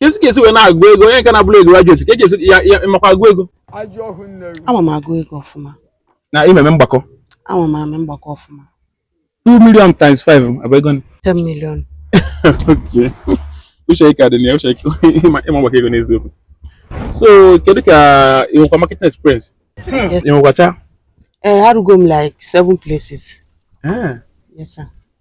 esi ka esi wee na-agụ ego onye nke na-abụrọ graduate ka a ga-asị ya ịmakwa agụ ego ama m agụ ego ọfụma na ị ma eme mgbakọ ama m eme mgbakọ ọfụma 2 million times 5 abụ ego one. 10 million Okay. uche ike adị na ya uche ike ịma ịma mgbakọ ego n'eziokwu so kedu ka ị nwekwa marketing experience Yes. ị nwekwacha ee arụgo m like seven places Eh, yes sir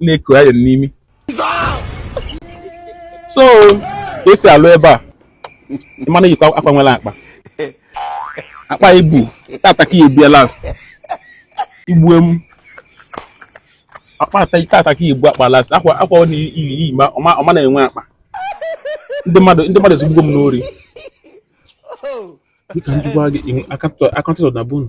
na-eko ya n'imi so ka esi alụ ebe a ị ma na-eyikwa akwa nwere akpa akpa i bu tata ka i bu ya last igbue m akpa tata ka i bu akpa last akwa akwa ị na-eyi ọ ma na-enwe akpa ndị mmadụ ndị mmadụ ezugbugo m n'ori dịka njikwa gị aka ntụtụ na bunu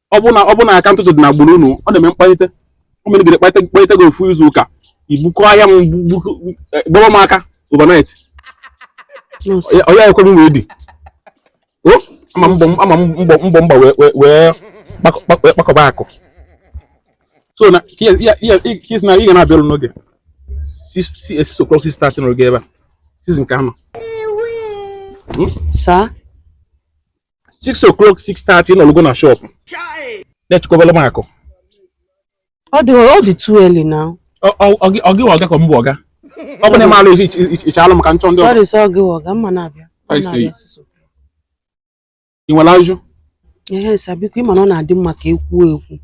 ọ bụ na ọ bụ na aka ntụtụ dị n'agbụrụ unu ọ na-eme mkpalite o mere gị kpalite kpalite gị ofu izu ụka i bukọ ahịa m gbọrọ m aka overnight ọ ya ekwe m edi ama mbọ m gba wee kpakọba akụ so na kis na ị ga na-abịa ọrụ n'oge 6 o'clock 6:30 n'oge ebe a season nke anọ sir 6 o'clock 6:30 ịnọlụgo na shop na-echekọbala m akụ ọ dị ọ dị too early now Ọ- ọ- ọ gị- ọ gị wụ ọga ka m bụ ọga ọ bụ na ị ma alụ ị chalụ m ka m chọọ ndị ọzọ sorry sir gị wụ ọga m ya na-abịa Ọ I see. na-abịa sịsọ. ị nwere ajụjụ ehe sir biko ịma na ọ na-adị mma ka ekwuo ekwu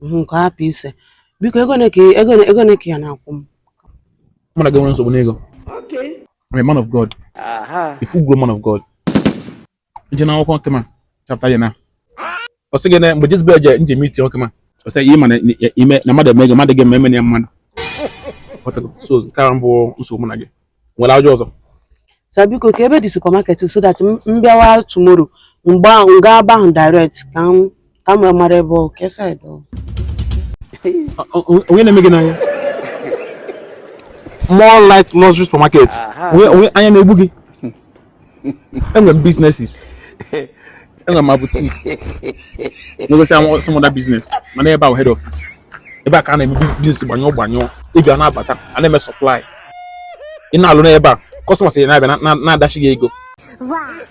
mhm, nke hapụ ise biko ego one ka ị ya na-akwụ m mụ na gị enwerọ nsogbu n'ego I'm a man of God a full grown man of God i jee n'akwụkwọ nkịma chapter ya na ọ sị gị na mgbe Jezebel je nje meet ọkịma ọ sị ihe ị ma na mmadụ eme gị mmadụ gị eme ya mmadụ so nke a mbụ nsogbu na gị nwere ajụjụ ọzọ sir biko kee ebe dị supermarket so that m bịawa tomorrow m gaa ebe ahụ direct ka m Ka m mara ebe ọ ka side ọ dị. Onye na-eme gị n'anya? More like luxury supermarket. Onye anya na-egbu gị? Enwere m businesses. Enwere m boutique. N'ogosi am some other business. Mana ebe a bụ head office. Ebe a ka a na-eme business gbanyụọ gbanyụọ. Ị ga na-abata, a na-eme supply. Ị na-alụ n'ebe a, customers na-abịa na-adashi gị ego.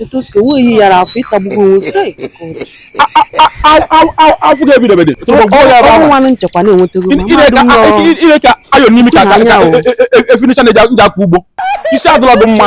etu o si ka nweghị yara afọ ịtagbugo onwe gị Hey, God. afọ ga-ebidebede ọrụ nwanụ nchekwa na-enwetago ma mmadụ nọ ire ka ayọ n'imi ka Tụna anya o. efinicha na-eji akwa ugbo isi adịla dị mma